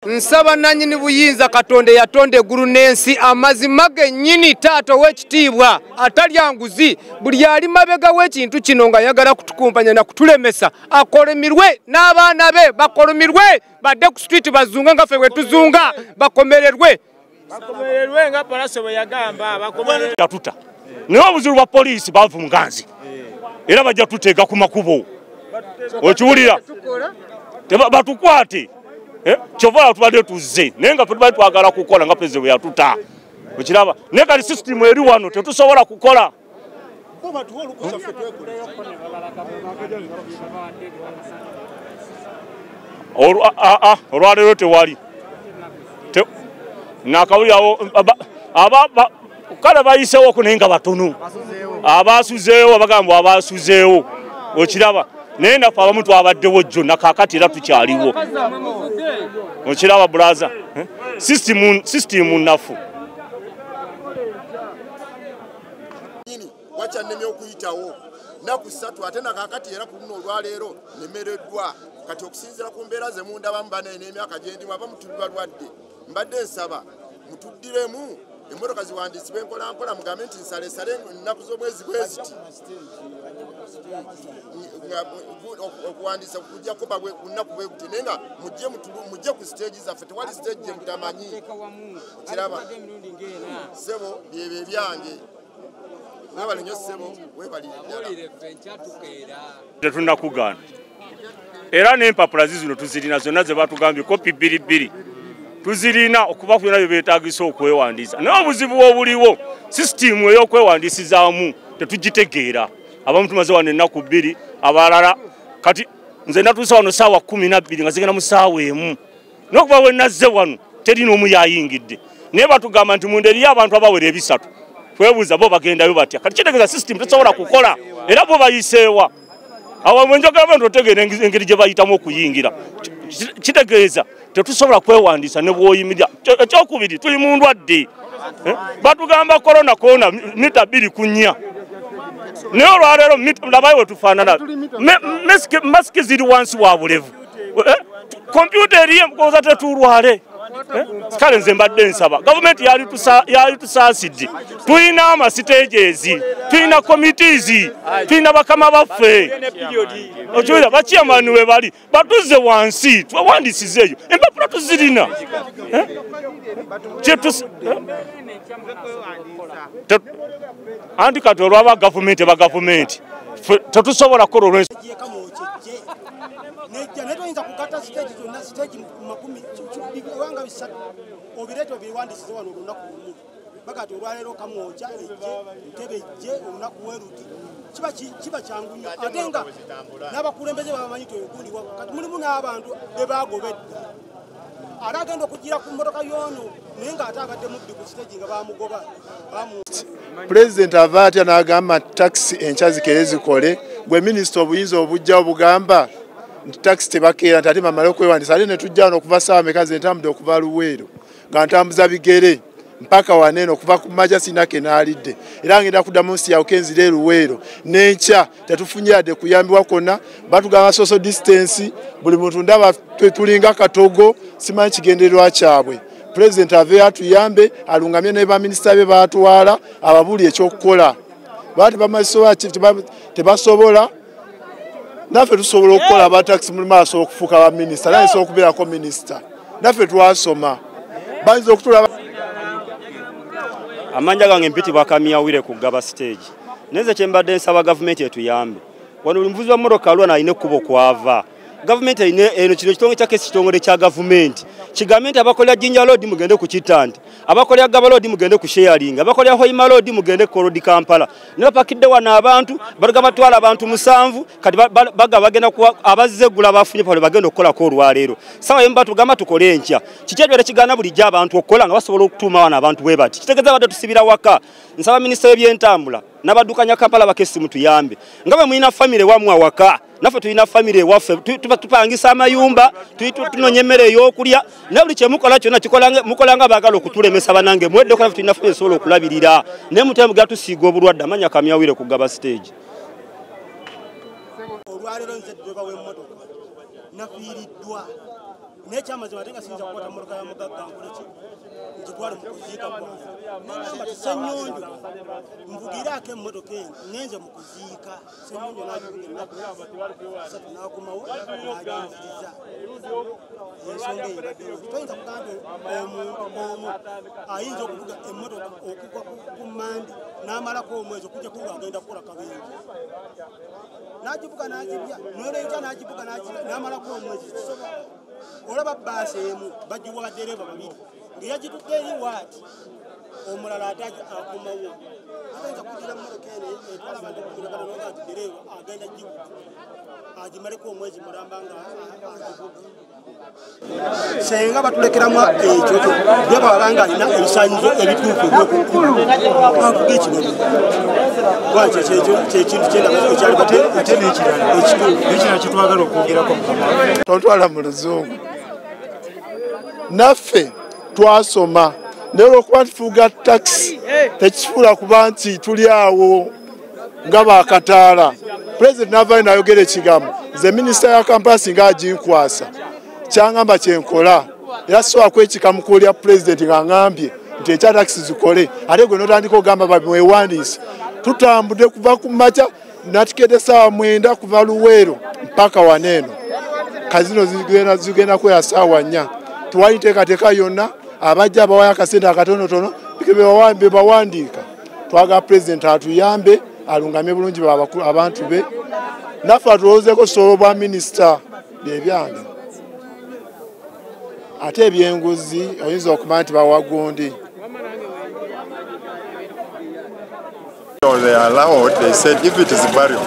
nsaba nanyini buyinza katonda eyatonda eggulu n'ensi amazima gennyini taata ow'ekitiibwa atalya nguzi buli ali mabega w'ekintu kino ng'ayagala kutukumpanya na kutulemesa akolimirwe n'abaana be bakolimirwe badde ku situiti bazunga nga ffe bwe tuzunga bakomererwe bakomererwe nga palase bwe yagamba bakomererwe yatuta naye obuzibu bwa poliisi bavunga nze era bajja tuteeka ku makubo okiwulira batukwate eh? kyovala tubadde tuzze naye nga fetubadde twagala kukola nga pulezidenti bwe yatuta okiraba naye kati sisitimu eri wano tetusobola kukola olwaleero tewali nakawuli awo kale bayiseewo ku naye nga batono abaasuzeewo abagambwa abaasuzeewo okiraba naye naffe abamu twabaddewo jjo nakakati era tukyaliwo okiraba bulaza eh? sisitimu naffu nyini wakyannemye okuyitawo naku ssatu ate nakakati era ku luno olwaleero nemereddwa kati okusinzira ku mbeera ze mundabamu banaye n'emyaka gyendimu aba mutuli balwadde mbadde nsaba mutuddiremu emmotoka ziwandiisibwa enkolampola mugambe nti nsalesale ennaku z'omwezi bweziti okuwandiisa kujja kuba ku nnaku bweguti naye nga mujje ku siteegi zaffe tewali siteegi gyemutamanyi kiraba sebo byebyo ebyange webale nyo sebo webalirddalatetunakugaana era n'empapula zizino tuzirina zonna ze batugambye kopi bbiri bbiri tuzirina okuba ku byona bye beetagisa okwewandiisa naye obuzibu obuliwo sisitiimu ey'okwewandiisizaamu tetugitegeera abamu tumaze wano ennaku bbiri abalala kati nze natuusa wano saawa kumi nabbiri nga zigenda mu saawa emu nokuba wenazze wano teri nomu yayingidde naye batugamba nti munda eriyo abantu abawera ebisatu twebuuza bo bagendayo batya kati kitegeza system tesobola kukola era bo bayiseewa awo mwenjogera bantu otegeera engeri gye bayitamu okuyingira kitegeeza tetusobola kwewandiisa ne bwoyimirira ekyokubiri tuli mu ndwadde eh? batugamba korona kona mita bbiri ku nnya naye olwaleero labayo wetufaanana masiki ziri wansi wa bulevu kompyuta eh, eriye mukoza tetulwale eh, kale nze mbadde nsaba gavumenti yalitusaasidde tulina amasitegeezi tulina komitizi tulina bakama baffe okiwulira bakiyamani we bali batuzze wansi twewandisiza eyo empapula tuzirina eh? anti kati olwaba gavumenti bagavumenti tetusobola kukola olwensi nejja naye toyinza kugatta siteegi zonna siteegi makumi ewanga bisatu obireeta obiwandisize wano olunaku lumu bagati olwaleero kamwoja ejje ntebe ejje olunaku weruti kiba kyangu nyo ate nga n'abakulembeze babamanyi twegundi wakati mulimu n'abantu bebagobedda ali agenda okugira ku mmotoka y'ono naye ng'ate abadde mubbi ku siteegi nga bamugoba pulezidenti ava atya n'agamba nti takisi enkya zikere zikole gwe minisita obuyinza obujja obugamba nti takisi tebakeera nti ate mamale okwewandisa ate netujja wano okuva saawa meka ze ntambudde okuva luweero nga ntambuza bigere mpaka waneeno okuva ku maja sinake naalidde era ngenda kuddamu nsi yawuka enzira eruweero n'enkya tetufunye yadde kuyambibwa kwonna batugamba social distance buli muntu ndaba tulinga katogo simanyi kigendererwa kyabwe pulezidenti aveyo atuyambe alungamye ne baminisita be batwala ababuli ekyokukola bati bamazisobola tebasobola naffe tusobola okukola abatakisi mulimu asobola okufuuka baminisita naye sobola okubeerako minisita naffe twasoma bayinza okutula amanja gange mpitibwa kamiyawire ku gaba siteegi naye nze kyembadde nsaba gavumenti etuyambe wano buli muvuzi wa mmotoka alwana alina ekkubo kwava gavumenti erina eno kino kitongo kya kesi kitongole kya gavumenti kigambe nti abakolera jinja loodi mugende ku kittanti abakolera gaba loodi mugende ku sheyaringa abakolera hoima loodi mugende ku kolodi kampala ne bapakidde wano abantu baluga batwala abantu musanvu kati baga bagenda kuwa abazze eggula bafunye pale bagenda okukolako olwaleero sawa yemu batugamba tukole enkya kiki ekibeera kigaana bulijjo abantu okukola nga basobola okutuuma wano abantu bwe bati kitegeeza badde tusibira waka nsaba minisita w'ebyentambula n'abaddukanya kampala bakesimu tuyambe nga bwe mulina famire wamwe awaka naffe tulina famire ewaffe tupangisa amayumba tunonya emmere ey'okulya naye buli kyemukola kyonna mukola nga baagala okutulemesa banange mwedde okola fe tulina famire esobola okulabirira naye mutemu gatusiiga obulwadde amanya kamyawire kugaba siteegi olwaleero nze ddebawemotoka nafiiriddwa naye kyamazima ate nga siyinza kukwata mmotoka ya mugagga nkoleki ngitwale mu kuziika kwange nagamba ti senyonjo nvugiraako emmotoka eno ngenze mu kuziika senyonjo nagiugenakusatu nakomawo naginziriza ensonga eyo baddeo toyinza kugamba omuntu omu ayinza okuvuga emmotoka okugwa ku mandi n'amalako omwezi okujja kuba agenda kukola kabenje n'agibuka n'agibya n'olwenkya n'agibuka n'agibya n'amalako omwezi kisobola olaba bbaasi emu bagiwa baddereeva babiri ngeyagitudde eri waati omulala ate akumawo ayinza kugira mmotoka eno etwala abantu okukulagana noga nti dereeva agenda gibuka agimaleko omwezi mulamba nga agibuka senga batulekeramu ekyo gyebaba nga alina ebisanyizo ebituufu ebyokukkulu avuga ekibabu lwaki kyekintu kyendaekyalibate ate nekirala ekituufuekirala kyetwagala okwogerako tontwala mu luzungu naffe twasoma naye olwokuba nti tuga takisi tekifuula kuba nti tuli awo nga bakataala pulezidenti n'avaayo nayogera ekigambo nze minisita ya kampala singa aginkwasa kyangamba kyenkola era sisobola kwekika mukuulya pulezidenti nga ngambye nti ekyatakisi zikole ate gwe notandika ogamba bamwewandiise tutambudde kuva ku maca natukede saawa mwenda kuva luweero mpaka waneeno kazino zigenda kweya saawa nnya tewali nteekateeka yonna abajja abawayo akasente akatonotono bebawandiika twagala pulezidenti atuyambe alungamye bulungi abantu be naffe atulowoozeko osobola obwa minisita byebyange ate ebyenguzi oyinza okumanya nti bawagundi They allowed, they said if it is burial,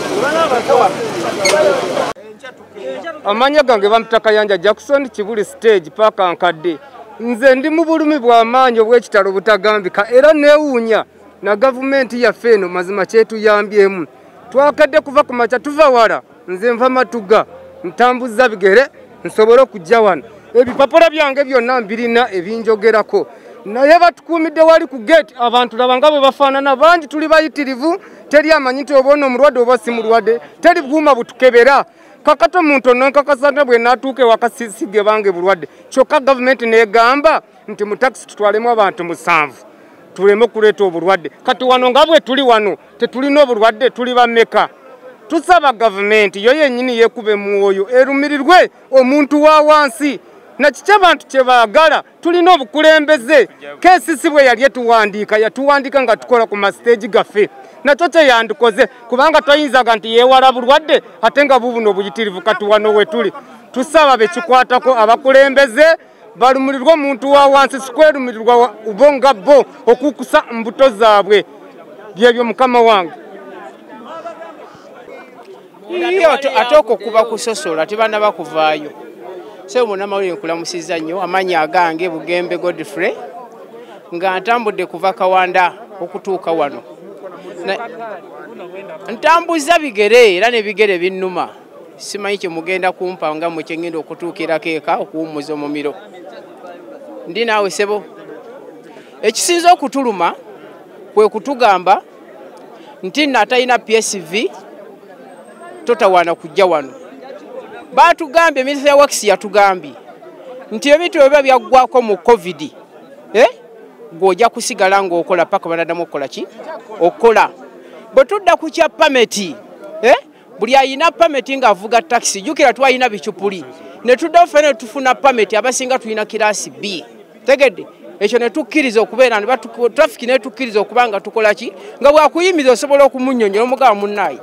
amanya gange bampita kayanja jackson kibuli stage paaka nkadde nze ndi mu bulumi bw'amaanyi obw'ekitalo obutagambika era neewuunya na gavumenti yaffe eno mazima kyetuyambyemu twakadde kuva ku makya tuva wala nze nva matuga ntambuza bigere nsobole okujja wano ebipapula byange byonna mbirina ebinjogerako naye batukuumidde wali ku gate abantu laba nga bwe bafaanana bangi tuli bayitirivu teri amanyi nti oba ono omulwadde oba si mulwadde teri buuma butukebera kakati omuntu ono nkakasa nti bwe naatuuka ewakasisige bange bulwadde kyokka gavumenti neegamba nti mu takisi tutwalemu abantu musanvu tuleme okuleeta obulwadde kati wano nga bwe tuli wano tetulina obulwadde tuli bameka tusaba gavumenti yo yenyini yekuba emwoyo erumirirwe omuntu wa wansi nakiki abantu kyebaagala tulina obukulembeze kesisi bwe yali etuwandiika yatuwandiika nga tukola ku masiteegi gaffe nakyo kyeyandikoze kubanga toyinzaga nti yewala bulwadde ate nga bubuno obuyitirivu katuwano wetuli tusaba bekikwatako abakulembeze balumirirwa omuntu wa wansi sikwerumirirwa bo nga bo okukusa mbuto zaabwe byebyo mukama wange ate okwo kuba kusosola tebana bakuvaayo sebo munamawulire nkulamusiza nnyo amaanyi agange bugembe godfrey nga ntambudde kuva kawanda okutuuka wano ntambuza bigere era nebigere binnuma simanyi kye mugenda kumpa nga mwe kye ŋŋenda okutuukirako eka okuwummuza omumiro ndi naawe sebo ekisinza okutuluma kwe kutugamba nti nno atalina psv totawaana kujja wano baatugambye minisita ya wakisi yatugambye nti ebintu byo biba byaggwako mu covid eh? gweojja kusigala ng'okola paka banadamu okukola ki okukola bwe tudda ku kya pameti eh? buli ayina pameti ng'avuga takisi jukira twalina bicupuli ne tuddawo fena ne tufuna pameti abasinga tulina kiraasi b tegedde ekyo ne tukkiriza okubeera ne trafiki ne tukkiriza okuba nga tukola ki nga bwakuyimiza osobola okumunyonyola omugaba munnaayi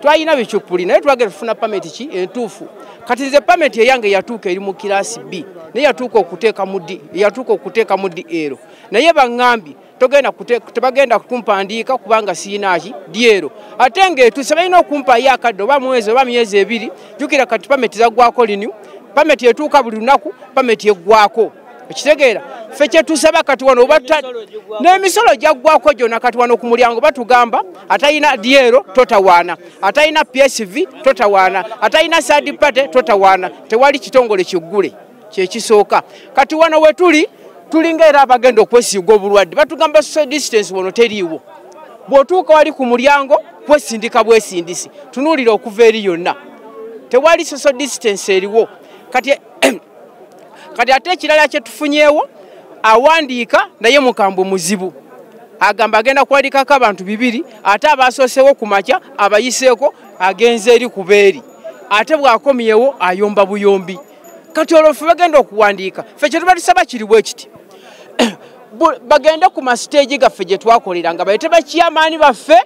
twalina bicupuli naye twagenda tufuna pameti ki entuufu kati nze pameti eyange yatuuka eri mu kiraasi b naye yatuuka okuteeka mu d yatuuka okuteeka mu d ero naye baŋŋambye togenda tebagenda kumpandiika kubanga siinaaki dyero ate ngaetuuse balina okumpaayo akadde oba mwezi oba myezi ebiri jukira kati pameti zaggwako linyu pameti etuuka buli lunaku pameti eggwako ekitegeera ffe kyetusaba kati wano n'emisolo gyaggwako gyona kati wano ku mulyango batugamba atalina dyero totawaana atalina psv totawaana atalina sadipate totawaana tewali kitongole kiggule kyekisooka kati wano wetuli tulinga era abagenda okwesiiga obulwadde batugamba social distance wano teriiwo bw'otuuka wali ku mulyango kwesindika bwesindisi tunuulira okuva eri yonna tewali social distance eriwo kati kati ate ekirala kyetufunyeewo awandiika naye mukambwe muzibu agamba agenda kuwandikako abantu bibiri ate abasoosewo ku makya abayiseeko agenze eri kubeeri ate bw'akomyewo ayomba buyombi kati olwo ffe bagenda okuwandiika ffe kyetuba tusaba kiri bwe kiti bagende ku masiteegi gaffe gye twakolera nga bayite bakiyamaani baffe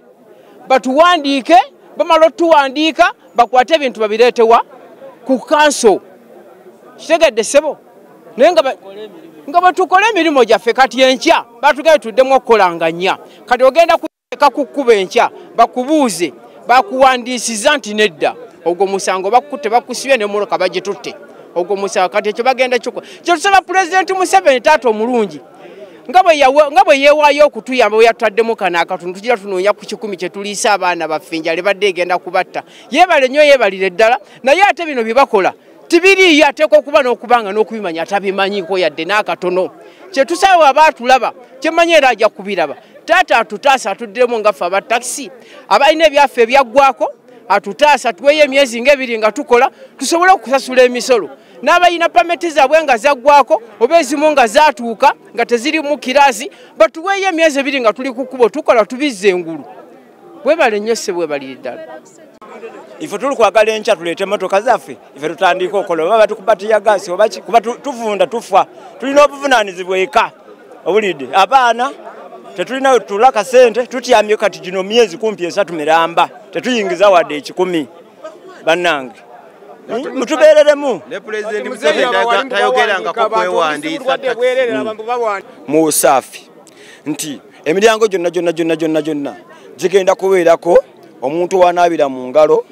batuwandiike bamala otuwandiika bakwate ebintu babireetewa ku kanso kitegedde ssebo naye nga nga bwetukola emirimu gyaffe kati enkya batugende tuddemu okukolanga nnya kati ogenda leka kukkuba enkya bakubuuze bakuwandiisiza nti nedda ogwo musango bakukutte bakusibye nemoloka bagitutte ogwo musango kati ekyo bagenda kiko kyetusaba pulezidenti museveni taata omulungi nga bwe yeewaayo okutuyamba bwe yatutaddemu kano akatundu tugira tunoonya ku kikumi kye tuliisa abaana baffe enjala ebadde egenda kubatta yeebale nnyo yeebalire ddala naye ate bino bye bakola tibiriiyo ateekwa okuba n'okubanga n'okubimanya atabimanyiko yadde n'akatono kyetusaba aba atulaba kyemanya era ajja kubiraba taata atutaasa atuddiremu ngaffe aba takisi abalina ebyaffe ebyaggwako atutaasa tuweeyo emyezi ngaebiri nga tukola tusobole okusasula emisolo n'abalina pameti zaabwe nga zaggwako oba ezimu nga zaatuuka nga tezirimu kiraasi batuweeyo emyezi ebiri nga tuli ku kkubo tukola tubizza engulu webale nnyo ssebo webalire ddala ife tuli kwagala enkya tuleete emotoka zaffe ife tutandiika okola oba batukuba tiyagaasi obaki kuba tuvunda tufa tulina obuvunaanizibwa eka obulidde abaana tetulina wetutula kasente tutyamye kati gino myezi kumpi esatu miramba tetuyingiza wadde ekikumi bannange mutubeereremu mu saafi nti emiryango gyonna gyonna gyonna gyonna gyonna gigenda kubeerako omuntu wanaabira mu ngalo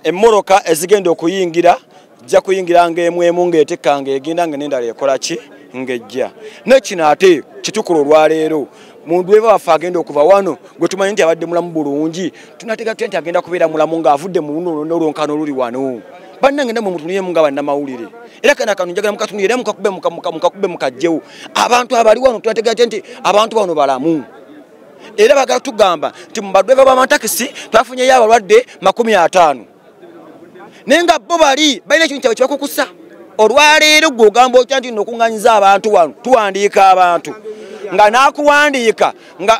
emmoroka ezigenda okuyingira jja kuyingira ngaemu emu ng'etikka ng'egenda nga n'endala ekola ki ng'ejja naye kino ate kitukula olwaleero muntu weba waffe agenda okuva wano gwe tumanyi nti abadde mulamu bulungi tunateeka tutya nti agenda kubeera mulamu ng'avudde mu luno olwonkano oluli wano bannange namwe mutunuyemu nga bannamawulire era kana kano njagala mukatunuyire era mukakube mukakube mukajjewo abantu abali wano tubategeate nti abantu bano balamu era bagala tugamba nti mubadweva bamatakisi twafunyeyo abalwadde makumi ataano naye nga bo bali balina ekintu kyabwe kibakukusa olwaleero gwe ogamba otya nti nokuŋanyiza abantu wano tuwandiika abantu nga nakuwandiika nga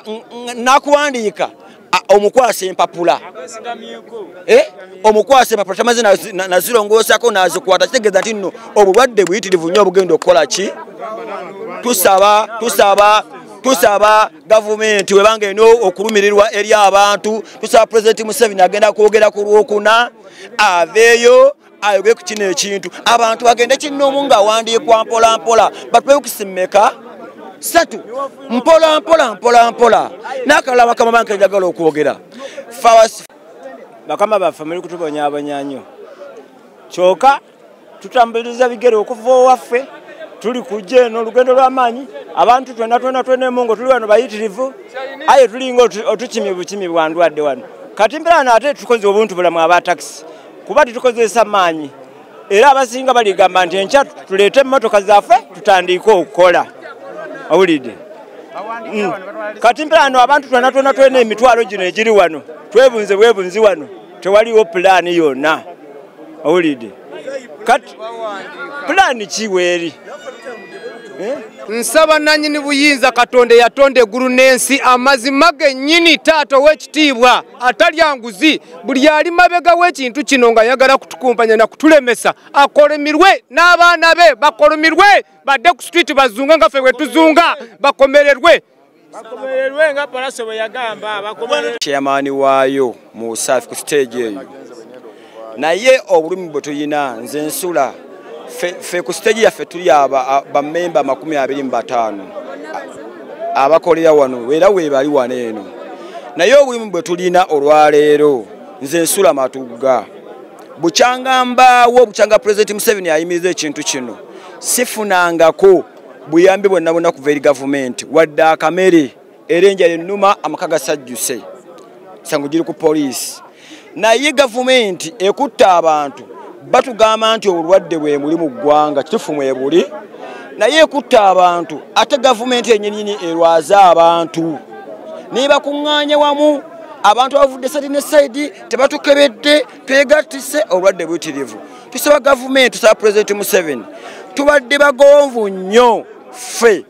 nakuwandiika omukwasa empapula eh? omukwasa empapula tamaze nazirongosako nazikwata kitegeeza nti nno obulwadde buyitirivu nnyo obugenda okukola ki tusaba tusaba tusaba gavumenti webanga eno okulumirirwa eri abantu tusaba pulezidenti museveni agenda kwogera ku lwokuna aveeyo ayoge ku kino ekintu abantu bagende kinnoomu ng'awandiikwa mpolampola batwewukisi mmeka satu mpolampola mpolampola n'akalala bakama banke njagala okwogera fawasi bakama baffe muli kutubonyabonya nnyo kyoka tutambuliriza bigere okuva owaffe tuli kujja eno olugendo lw'amaanyi abantu twena twena twena emungo tuli wano bayitirivu aye tulinga otukimi bukimi bwandwadde wano kati mbeera naate tukoze obuntu bulamu aba takisi kuba tetukozesa maanyi era abasinga baligamba nti enkya tuleete emmotoka zaffe tutandiike okukola awulidde mm. kati mperaano abantu twena twena twena emitwalo gino egiri wano twebunze bwebunzi wano tewaliwo pulaani yonna awulidde kati pulaani kiweeri eh? nsaba nanyini buyinza katonda eyatonda eggulu n'ensi amazima gennyini taata ow'ekitiibwa atalya nguzi buli ali mabega w'ekintu kino nga yagala kutukumpanya na kutulemesa akolimirwe n'abaana be bakolimirwe badde ku street bazunga nga fe wetuzunga bakomererwe chairman waayo mu usafi ku stage eyo naye obulumi bwe tulina nze nsula fe ku stage yaffe tuli bamemba amakumi abiri mu bataano abakolera wano era weebali wano eno naye obulimu bwe tulina olwaleero nze nsula matugga bukyanga mbaawo bukyanga pulezidenti museveni ayimiriza ekintu kino sifunangako buyambi bwonna bwonna kuva eri gavumenti wadde akamere era enjala ennuma amaka gasajjuse sango giri ku poliisi naye gavumenti ekutte abantu batugamba nti obulwadde bwe muli mu ggwanga kitufu mwe buli naye ekutte abantu ate gavumenti enyinyini erwaze abantu naye bakuŋŋaanye wamu abantu abavudde sadi ne saidi tebatukebedde twegattise obulwadde buyitirivu tusaba gavumenti tusaba pulezidenti museveni tubadde bagonvu nnyo ffe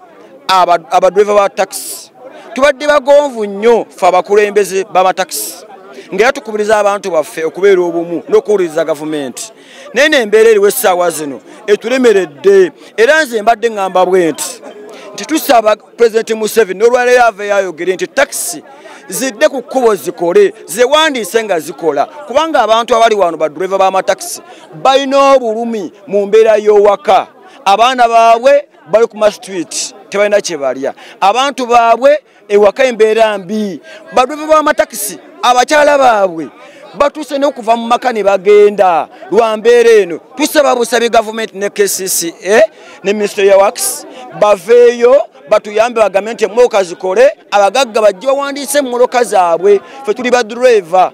abadriva ba takisi tubadde bagonvu nnyo fe abakulembeze bamatakisi ngaera tukubiriza abantu baffe okubeera obumu n'okuwuliriza gavumenti naye nembeera eriwo essaawa zino etulemeredde era nze mbadde ŋŋamba bwe nti nti tusaba pulezidenti museveni n'olwaleero ava eyayogere nti takisi zidde ku kkubo zikole zewandiise nga zikola kubanga abantu abali wano badureva b'amatakisi balina obulumi mu mbeera y'owaka abaana baabwe bali ku mastreet tebalina kyebalya abantu baabwe ewaka embeera mbi badweva bamatakisi abakyala baabwe batuuse nokuva mu maka ne bagenda lwa mbeera eno tusaba busabi gavumenti ne kcca ne minisito ya wax baveeyo batuyambe bagambe nti emmoloka zikole abagagga bajje bawandiise emmoloka zaabwe fe tuli badureva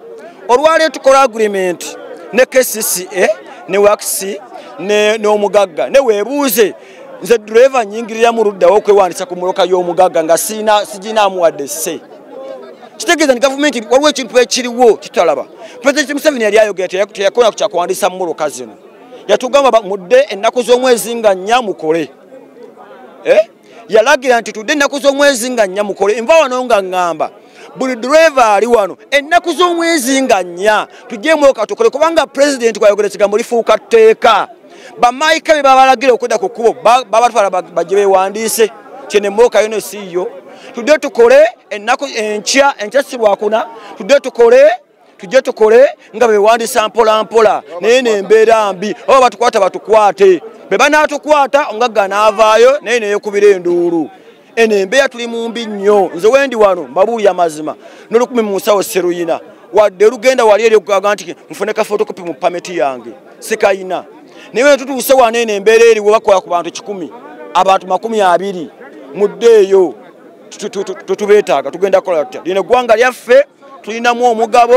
olwaleero tukola agreement ne kcca ne wakisi n'omugagga ne weebuuze nze dureva nyingirira mu luddawo okwewandisa ku muloka y'omugagga nga siginaamuwadde se kitegeeza ni gavumenti waliwo ekintu ekiriwo kitalaba pulezidenti museveni yali ayogera teyakona kukyakuwandisa mu muloka zino yatugamba mudde ennaku z'omwezi nga nnya mukole eh? yalagira nti tudde ennaku z'omwezi nga nnya mukole enva wano nga ŋŋamba buli driva ali wano ennaku z'omwezi nga nnya tujjemu okatukole kubanga pulezidenti kwayogera ekigambo lifuuka tteeka bamaayika be babalagira okudda ku kkubo babatwala bajje bewandiise kyenemookayo ne siiyo tudde tukole ennaku enkya enkya sirwakuna tudde tukole tujje tukole nga bewandisa mpolampola naye nembeera mbi oba batukwata batukwate be banaatukwata ongagga naavaayo naye neyekubira enduulu eno embeera tuli mu mbi nnyo nze wendi wano mbabuuli amazima nolukumi mu nsawo seruyina wadde olugenda wali eri okugaga nti nfune ka fotokopi mu pameti yange sikayina naye wetutuuse wano eno embeera eriwo bakola ku bantu kikumi abantu makumi abiri muddeeyo tutubeetaaga tugenda kukola tutya lino eggwanga lyaffe tulinamu omugabo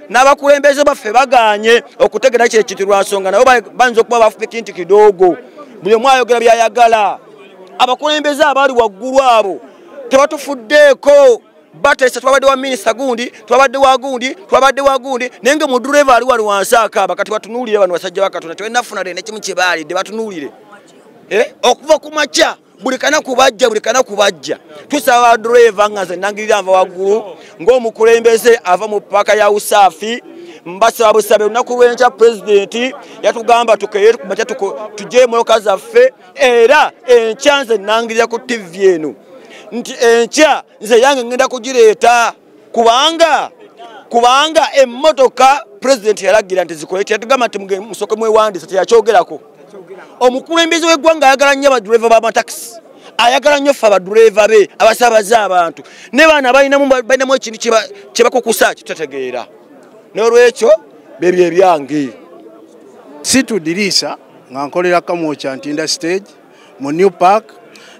n'abakulembeze baffe baganye okutegera kye kiti lwansonga nabo bayinza okuba bafupiki nti kidoogo buli omu ayogera byayagala abakulembeze abaali waggulu abo tebatufuddeeko batesa twabadde wa minisita gundi twabadde wa gundi twabadde wa gundi naye nga mudureva ali wali wansi akaaba kati batunuulire bano basajja bakatonda tebalinafuna le nekimu kyebaalidde batunuulire eh? okuva ku makya buli kanaku bajja buli kanaku bajja tusaba driver nga nze nangirira nva waggulu ng'omukulembeze ava mu paaka ya usaafi mbasaba busabe lunaku lwenkya pulezidenti yatugamba tukeye kumakya tujje emotoka zaffe era enkya nze nangirira ku tivi eno nti enkya nze yange ngenda kugireeta kubanga kubanga emmotoka pulezidenti yalagira nti zikole kyatugamba nti musoke mwewandisa teyakyogerako omukulembeze w'eggwanga ayagala nnyo abadureva b'amatakisi ayagala nnyo ffe abadureva be abasabaza abantu ne baana balinamu ekintu kyebakukusa kitategeera n'olwekyo bebyo ebyange situdiriisa nga nkolera kamwokya ntinda stage mu new park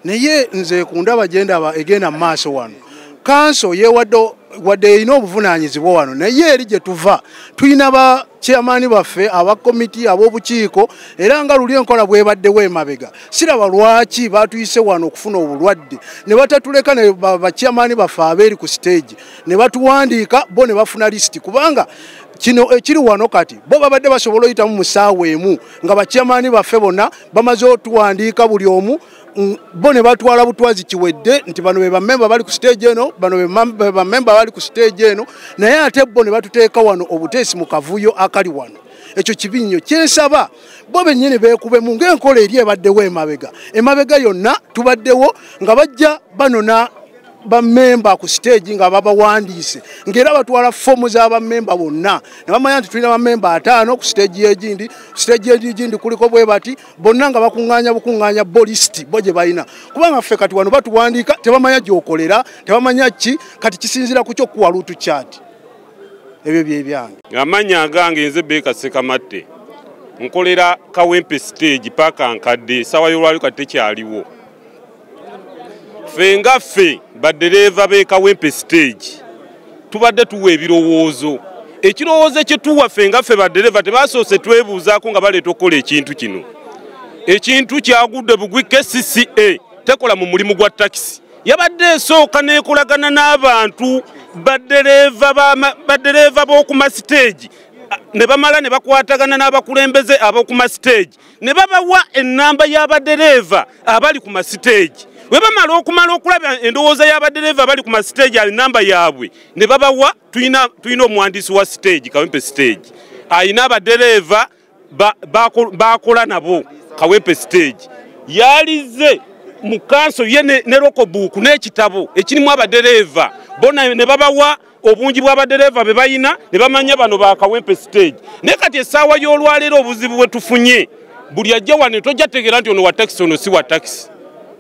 naye nze ku ndaba gyendaba egenda mu maaso wano kanso yewadde wadde erina obuvunaanyizibwa wano naye eri gye tuva tulina ba chairmani baffe aba komiti ab'obukiiko era nga luli enkola bwebaddewo emabega siraba lwaki batuyise wano okufuna obulwadde ne batatuleka ne bachairmani baffe abeeri ku siteegi ne batuwandiika bo ne bafuna lisiti kubanga kino ekiri eh, wano kati bo babadde basobola oyitamu mu saawa emu nga bakyamaani baffe bonna bamaze otuwandiika buli omu mm, bo ne batwala butwazi kiwedde nti bano bebamemba bali ku siteegi eno bano bebamemba bali ku siteegi eno naye ate bo ne batuteeka wano obuteesi mu kavuyo akali wano ekyo kibi nnyo kyensaba bo bennyini beekubemu ng'enkola eri ebaddewo emabega emabega yonna tubaddewo nga bajja banona bamemba ku siteegi nga babawandiise ngaera batwala foomu za bamemba bonna ne bamanya nti tulina bamemba ataano ku siteegi yegindi ku siteegi egigindi kuliko bwe bati bonna nga bakuŋŋaanya bukuŋŋaanya bolisiti bo gye balina kubanga ffe kati wano batuwandiika tebamanya gyokolera tebamanya ki kati kisinziira ku kyo kuwa luutu kyati ebyo byebyange amanya agange nze beeka sekamatte nkolera kawempe siteegi paaka nkadde esaawa y'olwali kati tekyaliwo ffe nga ffe baddereeva b'e kawempe stage tubadde tuwa ebirowoozo ekirowoozo ekyetuwa ffe nga ffe baddereeva tebasoose twebuuzaako nga baleeta okukola ekintu kino ekintu kyagudde bugwi kcca tekola mu mulimu gwa takisi yabadde esooka nekolagana n'abantu baddereeva b'oku masiteegi ne bamala ne bakwatagana n'abakulembeze ab'oku masiteegi ne babawa ennamba y'abadereeva abali ku masiteegi bwe bamala okumala okulaba endowooza y'abadereeva abali ku masiteegi ali namba yaabwe ne babawa tulina omuwandiisi wa siteegi kawempe siteegi alina abadereeva bakola nabo kawempe siteegi yalize mu kanso ye ne lokobuuku n'ekitabo ekirimu abadereeva bona ne babawa obungi bw'abadereeva be balina ne bamanya bano ba kawempe stage naye kati essaawa y'olwaleero obuzibu bwe tufunye buli ajja wano tojja tegeera nti ono wa takisi ono si wa takisi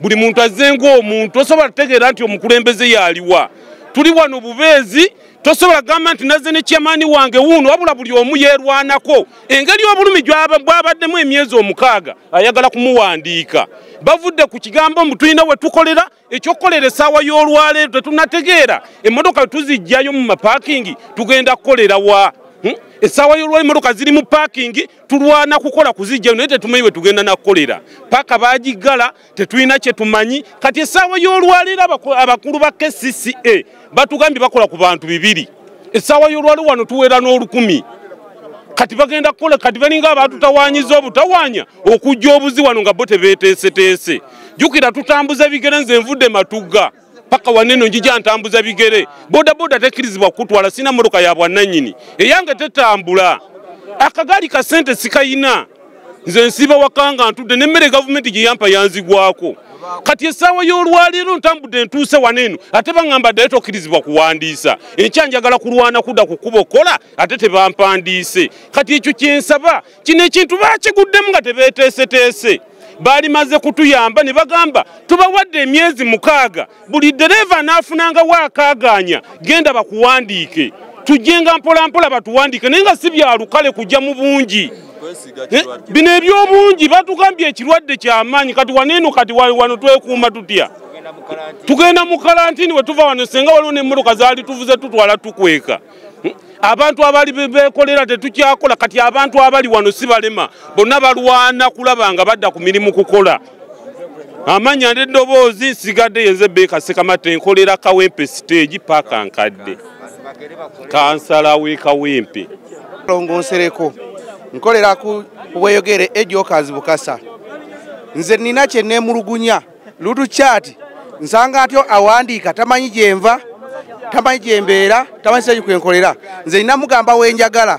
buli muntu azze ng'omuntu tosobola tutegeera nti omukulembeze yaliwa tuli wano bubeezi tosobola kugamba nti nazze ne kyamaani wange wuuno wabula buli omu yeerwanako engeri obulumi bwabaddemu emyezi omukaaga ayagala kumuwandiika bavudde ku kigambo mbu tulina we tukolera ekyokukolera esaawa y'olwaleero tetunategeera emmotoka tuzijjayo mu mapakingi tugenda kukolera wa hmm? esaawa y'olwaleero emmotoka ziri mu pakingi tulwana kukola kuzijjayo naye tetumanyi bwe tugenda nakukolera paaka bagiggala tetulina kye tumanyi kati esaawa y'olwaleero abakulu ba kcca batugambye bakola ku bantu bibiri essaawa y'olwali wano tuweera n'olukumi kati bagenda kukola kati balinga abatutawanyiza obutawanya okujja obuzi wano nga bo tebeteeseteese jukira tutambuza bigere nze nvudde matugga paka waneno njija ntambuza bigere bodaboda tekkirizibwa kukutwala sina motoka ya bwannanyini eyange tetambula akagaali ka sente sikayina nze nsiiba waka nga ntudde nemmere gavumenti gye yampa yanzigwako kati essaawa y'olwaleero ntambudde ntuuse wano eno ate baŋŋamba ddayo tokkirizibwa kuwandiisa enkya njagala kulwana kudda ku kkuba okukola ate tebampandiise kati ekyo kye nsaba kino ekintu bakiguddemu nga tebeeteeseteese baali maze kutuyamba ne bagamba tubawadde emyezi mukaaga buli dereeva anaafunanga waakaagaanya genda bakuwandiike tujjenga mpolampola batuwandiike naye nga si byalukale kujja mu bungi eh, bino ebyobungi batugambye ekirwadde kyamaanyi kati waneeno kati wano twekuuma tutya tugenda mu kalantini we tuva wano senga waliwo nemmotoka zaali tuvuze tutwala tukweka hmm? abantu abali bekolera tetukyakola kati abantu abali wano si balema bonna balwana kulaba nga badda ku mirimu kukola amanya neddoboozi nsigadde yenze beeka sekamata enkolera kawempe siteegi paaka nkadde kansala wekawempe longo nsereko nkolera ku bweyogere ejokazi bukasa nze nina kyenemulugunya lutu chati nsanga atyo awandiika tamanyi gyenva tamanyi gyembeera tamanyi seki kwenkolera nze nina mugamba wenjagala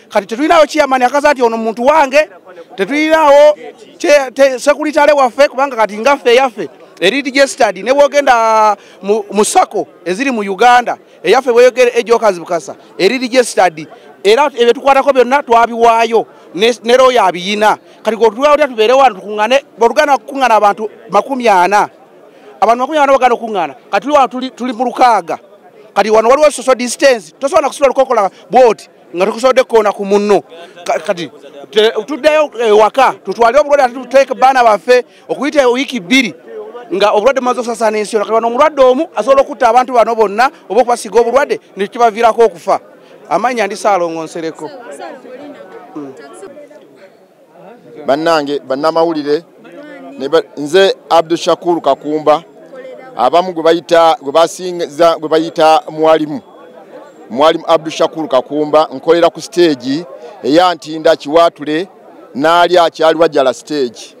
kati tetulinawo kiyamani akaza nti ono muntu wange tetulinawo sekuritale waffe kubanga kati ngaffe eyaffe eri registered ne bwogenda mu sako eziri mu uganda eyaffe bweyogera ejokazi bukasa eri registered era ebyo tukwatako byonna twabiwaayo ne royo abiyina kati gotulwawulira tubeere wano tukungane botugana kukungana abantu makumi ana abantu makumi ana bagana okukungana kati tuli wano tuli mu lukaaga kati wano waliwo social distance tosobola nakusobola lukokola bwoti nga tukusobodde kukoona ku munno kati tuddeyo ewaka tutwale obulwadde ate tuteeke baana baffe okuyita wiiki bbiri nga obulwadde bumaze okusasana ensi yona kati omulwadde omu asobola okutta abantu bano bonna oba okubasiga obulwadde nekibaviirako okufa amanya ndi saalongonsereko bannange bannamawulire nze abdu shakuru kakumba abamu gwe bayita gwe basinza gwe bayita mwalimu mwalimu abdu shakuru kakumba nkolera ku siteegi eyantinda kiwaatule naali akyali wajala siteegi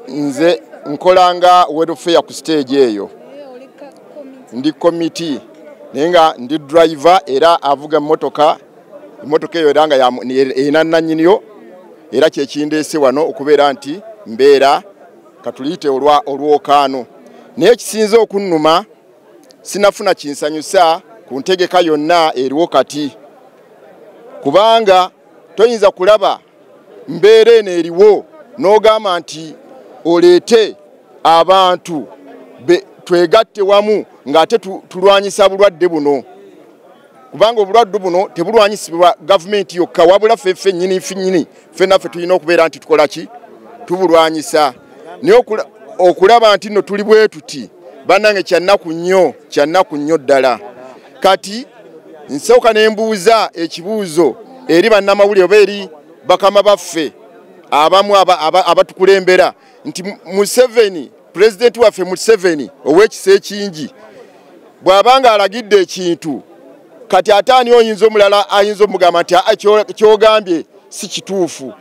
nze nkolanga welfare ku siteegi eyo ndi komiti naye nga ndi driver era avuga emmotoka emmotoka eyo era nga erina nannyiniyo era kyekindeese wano okubeera nti mbeera katuliyite olwokaano naye ekisinze okunnuma sinafuna kinsanyusa ku ntegeka yonna eriwo kati kubanga toyinza kulaba mbeera eno eriwo n'ogamba nti oleete abantu twegatte wamu ng'ate tulwanyisa bulwadde buno kubanga obulwadde buno tebulwanyisibwa gavumenti yokka wabula ffe ffe nyini finyini ffenaffe tulina okubeera nti tukola ki tubulwanyisa naye okulaba nti no tuli bwetuti bannange kyannaku nnyo kyannaku nnyo ddala kati nsooka ne mbuuza ekibuuzo eri bannamawulire oba eri bakama baffe abamu abatukulembera aba, aba nti museveni pulezidenti waffe museveni ow'ekisa ekingi bw'aba nga alagidde ekintu kati ate ani oyinza omulala ayinza omugamba nti kyogambye si kituufu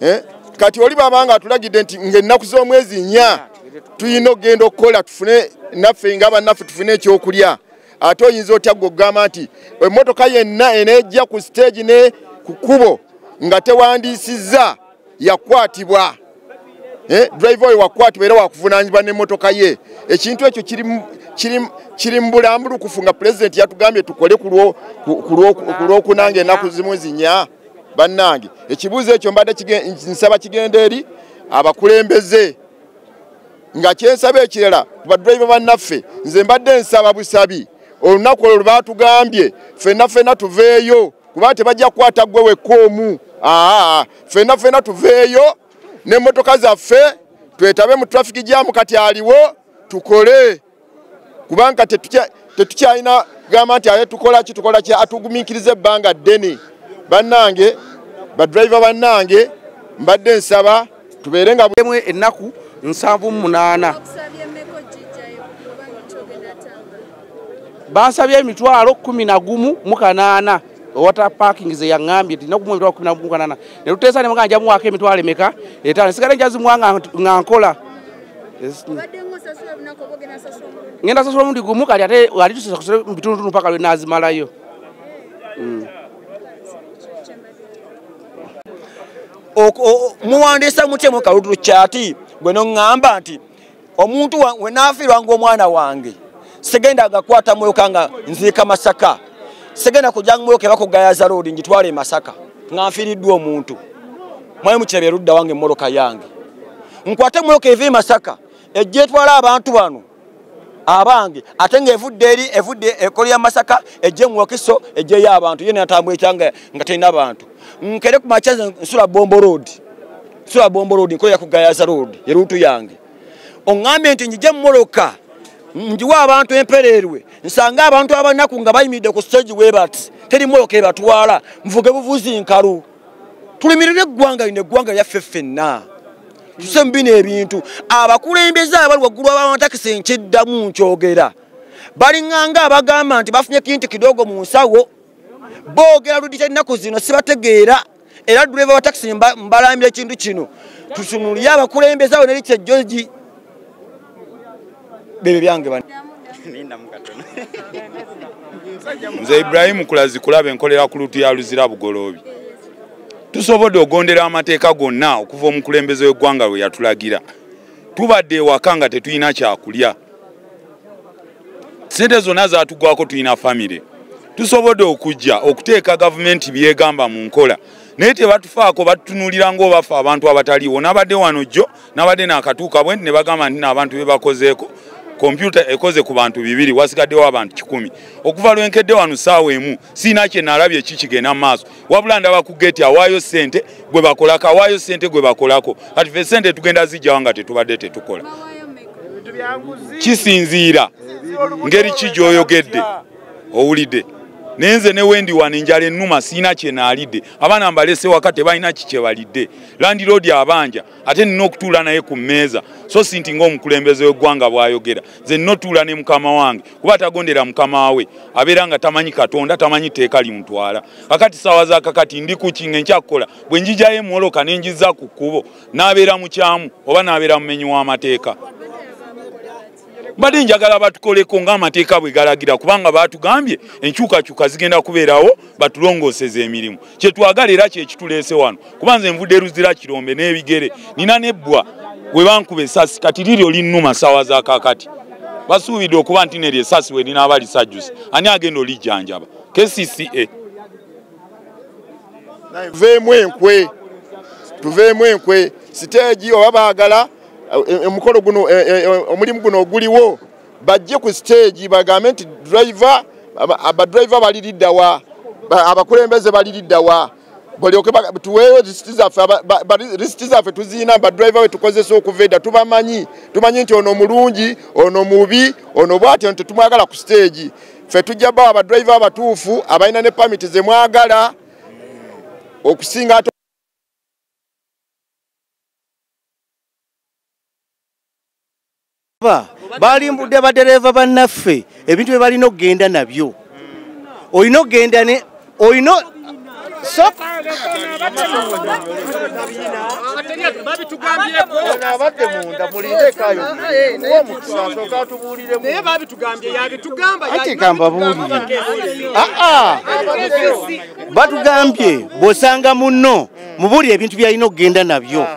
eh? kati oli baba nga atulagidde nti ngaennaku z'omwezi nya tulina okugenda okukola tufune naffe nga bannaffe tufune ekyokulya ate oyinza otya gwe okugamba nti emmotoka yenna enejja ku siteegi ne ku kkubo nga tewandiisizza yakwatibwa eh, driver oyo wakwatibwa era wakuvunanyizibwa n'emmotoka ye ekintu ekyo kiri mu bulambulukufu nga pulezidenti yatugambye tukole ku lwokunanga ennaku zimu zinya bannange ekibuuzo ekyo mbadde nsaba kigenda eri abakulembeze nga kyensaba ekirala badriva bannaffe nze mbadde nsaba busabi olunaku olwo lwebatugambye fenna fenna tuveeyo kuba tebajja kukwata gwe wekka omu aa fenna fenna tuveeyo n'emmotoka zaffe twetabe mu trafiki jamu kati aliwo tukole kubanga tetukyalina gamba nti aye tukolaki tukolaki atugumikiriza ebbanga ddene bannange badriva bannange mbadde nsaba tubeere nga bwemu ennaku nsanvu munaana bansabye emitwalo kumi na gumu mu kanaana owata parking ze yangambye tina kumwe mitwalo kumi nagumu kanana ne tuteesa ne mugamba nja muwaako emitwalo emeka etaano nsigale njazimuwa nga nkola ngenda sasula omundi gumu kati ate ali tusasasule mu bitundutundu mpaka lwe naazimalayo mm. muwandiisa mutya mu kaludulu kyati gwe noŋŋamba nti omuntu wenafiirwa ngaomwana wange segenda agakwata mwoka nga nziika masaka segenda kujanga mwoka ebakugayaza loodi ngitwala emasaka nga nfiiriddwa omuntu mwali mukiraba erudda wange emmotoka yange nkwate mwoka eva emasaka ejja etwala abantu bano abange ate nga evudde eri evudde ekolo ya masaka ejje muwakiso ejjeyo abantu ye natambula ekyanga nga terina bantu nkere ku makya nsula bombo road sula bombo road nkola ku gayaza road erutu yange ongambye nti njija mumoloka njiwa abantu empereerwe nsanga abantu abanaku nga bayimiridde ku stage webati teri moloka ebatwala nvuge buvuzi nkalu tulimirire eggwanga lino eggwanga lyaffe ffenna tuse mu bino ebintu abakulembeze abali waggulu abaamatakisi nkiddamu nkyogera balinganga abagamba nti bafunye kintu kidogo mu nsawo boogera ludita ennaku zino sibategeera era driver wa taxi mbalambira ekintu kino tusunulire abakulembeza awo neri kyejoji bebe byange bani nze ibrahimu kulazi kulaba enkolera ku lutu ya luzira bugoloobi tusobodde ogondera amateeka gonna okuva omukulembeze w'eggwanga lwe yatulagira tubadde ewaka nga tetulina kyakulya sente zonna zatugwako tulina famire tusobodde okujja okuteeka gavumenti byegamba mu nkola naye tebatufaako batutunulira ngaobafe abantu abataliiwo nabadde wano jjo nabadde nakatuuka bwe ne bagamba nti naabantu bebakozeeko kompyuta ekoze ku bantu bibiri wasigaddewo abantu kikumi okuva lwenkedde wano saawa emu siina kye nalabye ki kigenda mu maaso wabula ndaba ku geeti awaayo ssente gwe bakolako awaayo ssente gwe bakolako kati fe ssente tugenda zijjawa nga tetubadde tetukola kisinziira ngeri ki gyoyogedde owulidde naye nze ne wendi wano enjala ennuma siina kye naalidde abaana mbalese waka tebalina ki kye balidde landiroodi abanja ate nina okutuula naye ku mmeeza so si nti ngaomukulembeze w'eggwanga bw'ayogera nze notuula ne mukama wange kuba atagondera mukama we abeera nga tamanyi katonda tamanyi tteeka limuntwala kakati saawa zakakati ndi kukinga enkyakukola bwe njijayo emwoloka ne njiza ku kkubo n'abeera mukyamu oba n'abeera mumenyi w'amateeka mbadde njagala batukoleko ng'amateeka bwe galagira kubanga baatugambye enkyukakyuka zigenda kubeerawo batulongooseza emirimu kyetwagala era kyekituleese wano kuba nze nvudde eruzira kirombe n'ebigere nina nebbwa we bankuba esasi kati liryo linnuma saawa za kakati basuubidde okuba nti neryo esasi we linaaba lisajjusa ani agenda olijjanjaba kcca tuveemu enkwe tuveemu enkwe siteegi oba baagala eh, eh, omukolo guno eh, omulimu guno oguliwo bajje ku siteegi bagambe nti driver abadriver bali liddawa abakulembeze bali liddawa balyoke tuweeyo risiti zaffe risiti zaffe tuziina badriver wetukozesa okuva edda tubamanyi tumanyi nti ono mulungi ono mubi ono bwatyo nti tumwagala ku siteegi ffe tujja bawa badriver abatuufu abalina ne pamiti zemwagala okusinga ate balimbudde badereeva bannaffe ebintu bye balina okugenda nabyo olina okugenda ne olina batugambye bwosanga munno mubuulire ebintu byalina okugenda nabyo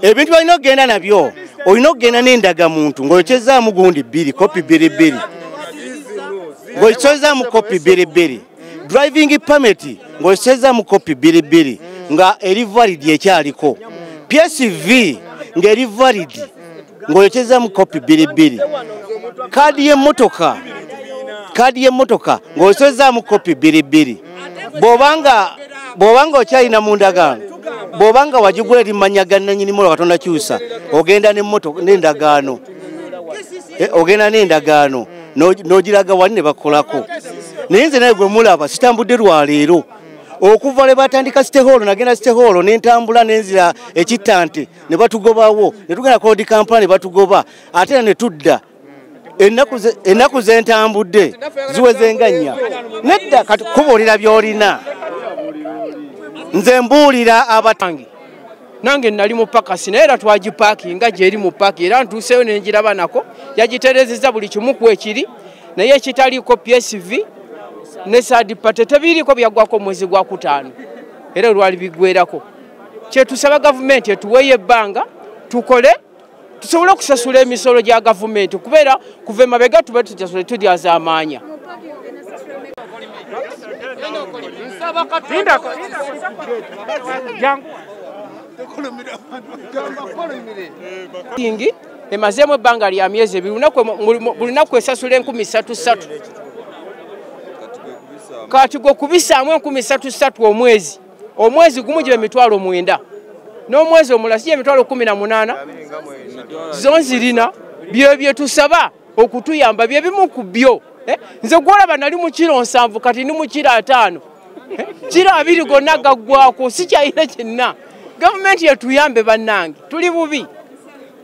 ebintu byalina okugenda nabyo olina okugenda n'endagamuntu ng'oyokyezaamu gundi bbiri kopi bbiri bbiri ng'oyokyezaamu kopi bbiri bbiri driving permit ng'oyokyezaamu kopi bbiri bbiri nga eri validi ekyaliko psv ng'eri validi ng'oyokyezzamu kopi bbiri bbiri kaadi y'emmotoka kaadi y'emmotoka ng'oyokyezzamu kopi bbiri bbiri bw'obanga bw'obanga okyalina mu ndagaano bw'obanga wagigula eri manya ga nanyini mola katonda kyusa ogenda n'emmotoka n'endagaano eh, ogenda n'endagaano n'ogiraga wali ne bakolako naye nze naye gwe mulaba sitambudde lwaleero okuva lwe batandika sitehoolo nagenda sitehoolo ne ntambula nenzira ekittante ne batugobawo ne tugenda kodi kampala ne batugoba ate era ne tudda ennaku zentambudde ziwezenga nnya nedda kati kubuulira by'olina nze mbuulira abatange nange nali mu pakasi naye era twagipaaki nga gyeri mu paaki era ntuuseeyo ne ngiraba nako yagiterezeza buli kimu ku ekiri naye ekitaliiko psv ne sadipate tebiriiko byaggwako omwezi gwa kutaano era olwali bigwerako kyetusaba gavumenti etuweeyo ebbanga tukole tusobole okusasula emisolo gya gavumenti kubeera kuva emabega tube tutasule tulyazamaanya ingi emazeemu ebbanga lya myezi ebiri buli naku esasula enkumi satu satu kati gwe kubisaamu enkumi satu satu omwezi omwezi gumu gibe mitwalo mwenda n'omwezi omulala siye mitwalo kumi na munaana zo nzirina byo byetusaba okutuyamba byebimu ku byo eh? nze gwolaba nali mukiro nsanvu kati ni mukiro ataano eh? kiro abiri gonna gaggwako sikyayina kyenna gavumenti yetuyambe bannange tuli bubi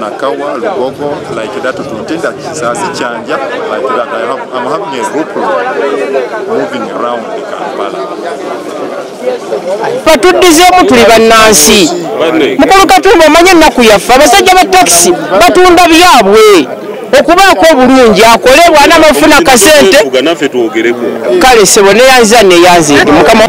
Nakawa, Lugogo, like that, Tuntinda, Kisasi, Chanja, like that. I have, I'm having a group moving around the Kampala. batuddizeemu tuli bannansi mukulu katumba omanye ennaku yaffe abasajja ba takisi batunda byabwe okubaako obulungi akole bwana mafuna kasente kale sebo neyanza neyanzindi mukama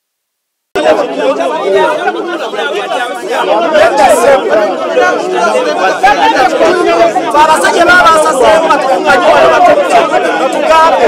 abasajja babasaseemu batugambe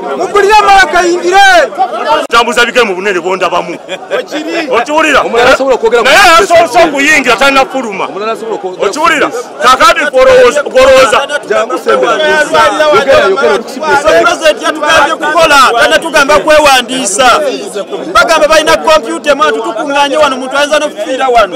mugulire amala kayingire tambuza bigere mu bunene bondabamu okiwulira naye asoose okuyingira talina fuluma okiwulira kakati gwolowooza tugamba kwewandiisa bagamba balina kompyuta emwana tutukuŋŋanye wano muntu ayinza nokufiira wano